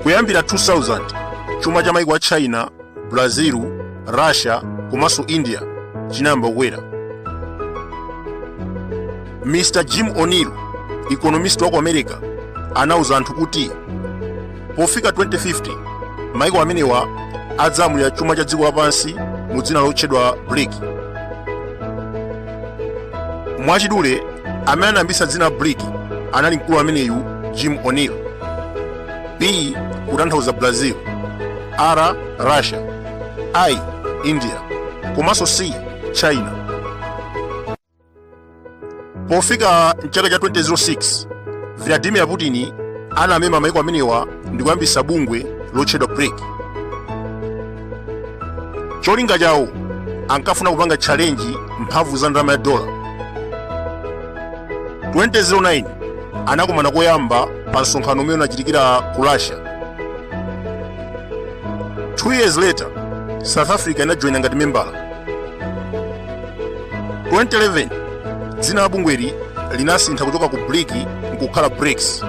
kuyambira 2000 chuma cha maiko a china brazil russia komanso india chinayamba kukwera mr jim o'neill economist wa ku america anauza anthu kuti Pofika 2050, maiko amenewa adzalamulira chuma cha dziko lapansi mu dzina lotchedwa BRIC. Mwachidule, amene anayambitsa dzina BRIC anali mkulu ameneyu Jim O'Neill. B kutanthauza Brazil, R Russia, I India, komanso C China. pofika mchaka cha 2006 vladimir putin anamema maiko amenewa ndi kuyambisa bungwe lotchedwa bric cholinga chawo ankafuna kupanga tchalenji mphamvu za ndalama ya dola 2009 anakumana koyamba pa msonkhano umene unachitikira ku russia two years later south africa inajoyina ngati membala 2011 dzina la bungweli linasintha kuchoka ku bric nkukhala brics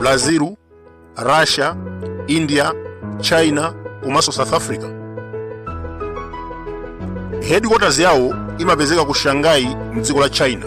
brazil russia india china komanso south africa headquarters yawo imapezeka ku shanghai mdziko la china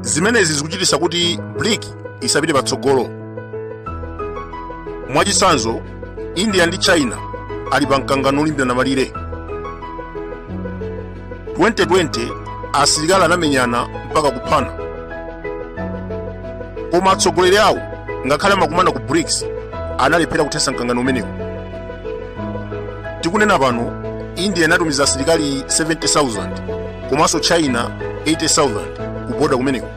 zimenezi zikuchititsa kuti bric isapite patsogolo mwachitsanzo india ndi china ali pa mkangano olimbirana malire 2020 asilikali anamenyana mpaka kuphana koma atsogoleri awo ngakhale amakumana ku brics analephera kuthetsa mkangano umenewu tikunena pano india inatumiza asilikali 70000 komanso china 80000 ku boda kumeneko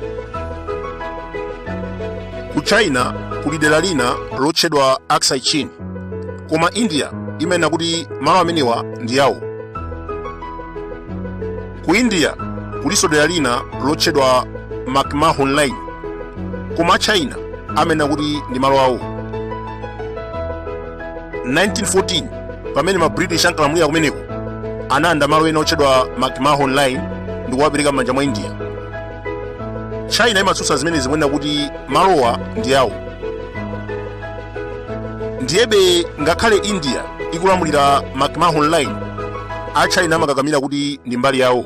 ku china kuli dera lina lotchedwa aksai chin koma india imanena kuti malo amenewa ndi awo ku india kulinso dera lina lotchedwa mcmahon line koma china amanena kuti ndi malo awo 1914 pamene ma british ankalamulira kumeneko analanda malo ena otchedwa mcmahon line ndi kuwapereka m'manja mwa india china imatsutsa zimenezi kunena kuti malowa ndi awo ndiyebe ngakhale india ikulamulira mcmahon line a china amakakamira kuti ndi mbali yawo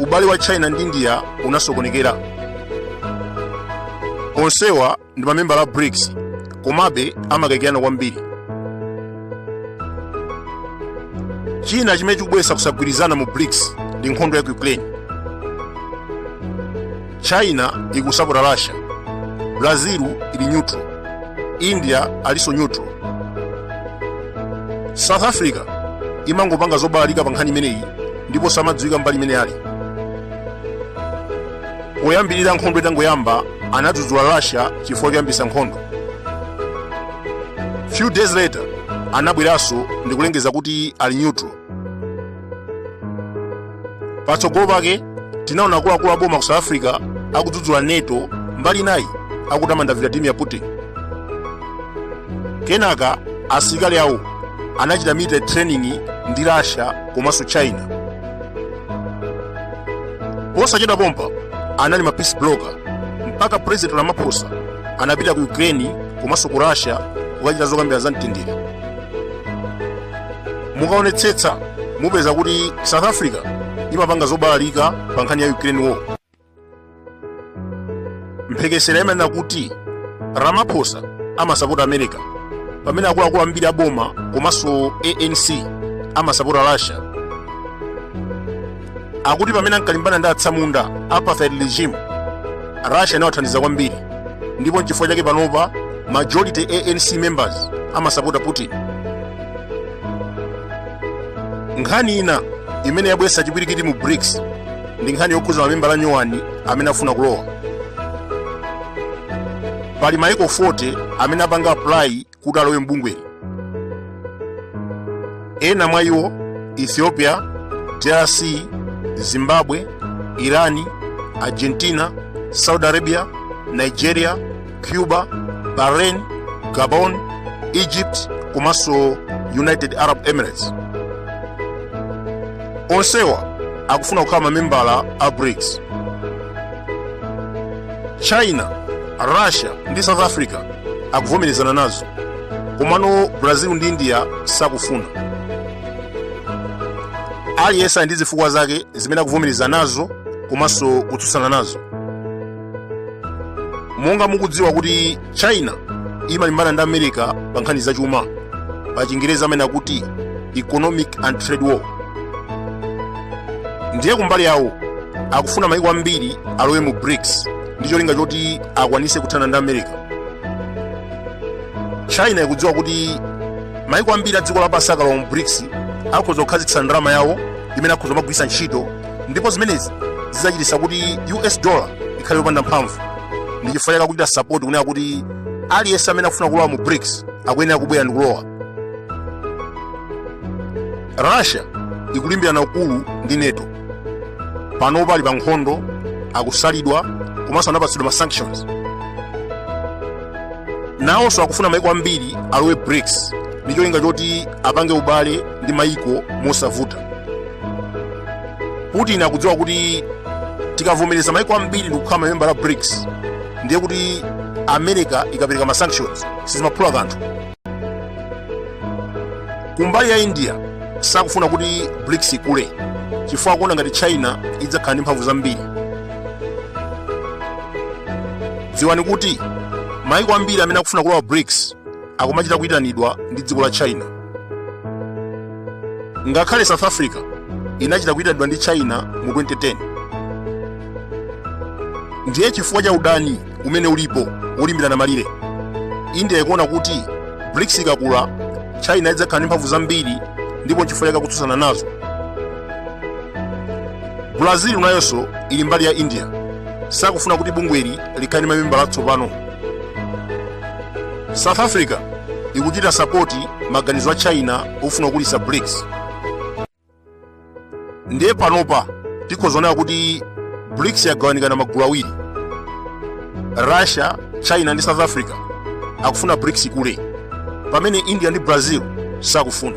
ubale wa china ndi india unasokonekera onsewa ndi mamembala a brics komabe amakayikirana kwambiri china chimene chikubweretsa kusagwirizana mu brics ndi nkhondo ya ku ukraine china ili kusapota russia brazil ili neutral india alinso neutral south africa imangopanga zobalalika pa nkhani imeneyi ndiponso samadziwika mbali imene ali poyambirira nkhondo itangoyamba anadzudzula russia chifukwa choyambitsa nkhondo few days later anabweranso ndikulengeza kuti ali neutral patsogolo pake tinaona akuluakulu aboma ku south africa akudzudzula nato mbali inayi akutamanda vladimir putin kenaka asilikali awo anachita military training ndi russia komanso china posachedwa pompa anali ma peace broker mpaka president ramaphosa anapita ku ukraine komanso ku russia kukachita zokambira za mtendere mukaonetsetsa mupeza kuti south africa imapanga zobalalika pa nkhani ya ukraine war mphekesera imanena kuti ramaphosa amasapota america pamene akuluakulu ambiri aboma komanso anc amasapota russia akuti pamene ankalimbana ndi atsamunda apartheid regime russia inawathandiza kwambiri ndipo nchifukwa chake panopa majority anc members amasapota putin nkhani ina imene yabweretsa chipwirikiti mu brics ndi nkhani yokhudza mamembala anyuwani amene afuna kulowa pali maiko 40 amene apanga apply kuti alowe m'bungweli ena mwa iwo ethiopia drc zimbabwe irani argentina saudi arabia nigeria cuba bahrain gabon egypt komanso united arab emirates onsewa akufuna kukhala mamembala a brics china russia ndi south africa akuvomerezana nazo komano brazil ndi india sakufuna aliyense ali ndi zifukwa zake zimene akuvomereza nazo komanso kutsutsana nazo monga mukudziwa kuti china imalimbana ndi america pa nkhani zachuma pa chingerezi amene akuti economic and trade war ndiye kumbali yawo akufuna maiko ambiri alowe mu brics ndi cholinga choti akwanitse kuthana ndi america china ikudziwa kuti maiko ambiri a dziko lapansi akalowa mu brics akhoza kukhazikitsa ndalama yawo imene akhoza kumagwiritsa ntchito ndipo zimenezi zidzachititsa kuti us dollar ikhale yopanda mphamvu ndi chifukwa chake akuchita support kunena kuti aliyense amene akufuna kulowa mu brics akuyenera kubwera ndi kulowa russia ikulimbirana ukulu ndi nato panopa ali pa nkhondo akusalidwa komanso anapatsidwa ma sanctions nawonso akufuna maiko ambiri alowe brics ndi cholinga choti apange ubale ndi maiko mosavuta putin akudziwa kuti tikavomereza maiko ambiri ndikukhala mamembala a brics ndiye kuti america ikapereka ma sanctions sizimaphula kanthu kumbali ya india sakufuna kuti brics ikule chifukwa akuona ngati china idzakhala ndi mphamvu zambiri dziwani kuti maiko ambiri amene akufuna kulowa brics akumachita kuyitanidwa ndi dziko la china ngakhale south africa inachita kuyitanidwa ndi china mu 2010 ndiye chifukwa cha udani umene ulipo wolimbirana malire india ikuona kuti brics ikakula china idzakhala ndi mphamvu zambiri ndipo nchifukwa chake akutsutsana nazo brazil nayonso ili mbali ya india sakufuna kuti bungweli likhale ndi mamembala atsopano south africa ikuchita sapoti maganizo a china ofuna kukulitsa brics ndiye panopa tikhoza kunena kuti brics yagawanikana magulu awiri russia china ndi south africa akufuna brics ikule pamene india ndi brazil sakufuna